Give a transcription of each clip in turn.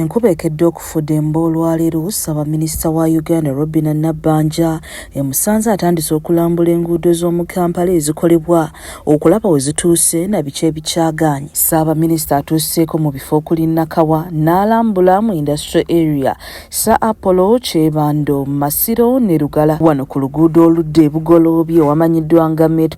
Enkuba ekedde okufudemba olwaleero Ssabaminisita wa Uganda Robinah Nabbanja emusanze atandise okulambula enguudo z'omu Kampala ezikolebwa okulaba wezituuse na biki ebikyagaanyi. Ssaabaminisita atuuseeko mu bifo okuli Nakawa n'alambula mu Industrial Area, Sir Apollo, Kyebando, Masiro ne Lugala. Wano ku luguudo oludda e Bugoloobi owamanyiddwa nga Met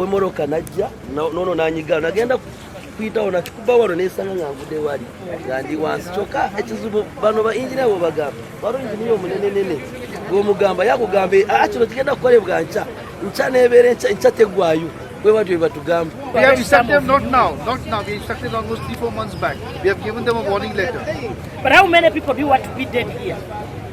wemoroka najja nono nanyiga nagenda kuyitawo nakikuba wano nesanga nga nvude wali nga ndi wansi kyokka ekizibu bano ba injiniya bobagamba wali injiniya omunenenene gwomugamba yakugamba ah, ah, kino kigenda kukolebwa nkya nkya nebeera nkya tegwayo We what we were to come. We have instructed them not now, not now. We instructed almost three, four months back. We have given them a warning letter. But how many people do you want to be dead here?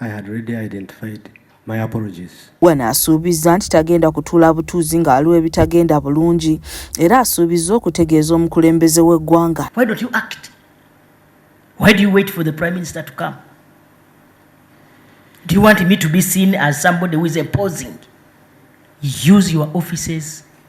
I had already identified my apologies. Wena asuubizza nti tagenda kutuula butuuzi ng'aliwo ebitagenda bulungi era asuubizza okutegeeza omukulembeze w'eggwanga. Why don't you act? Why do you wait for the prime minister to come? Do you want me to be seen as somebody who is opposing? Use your offices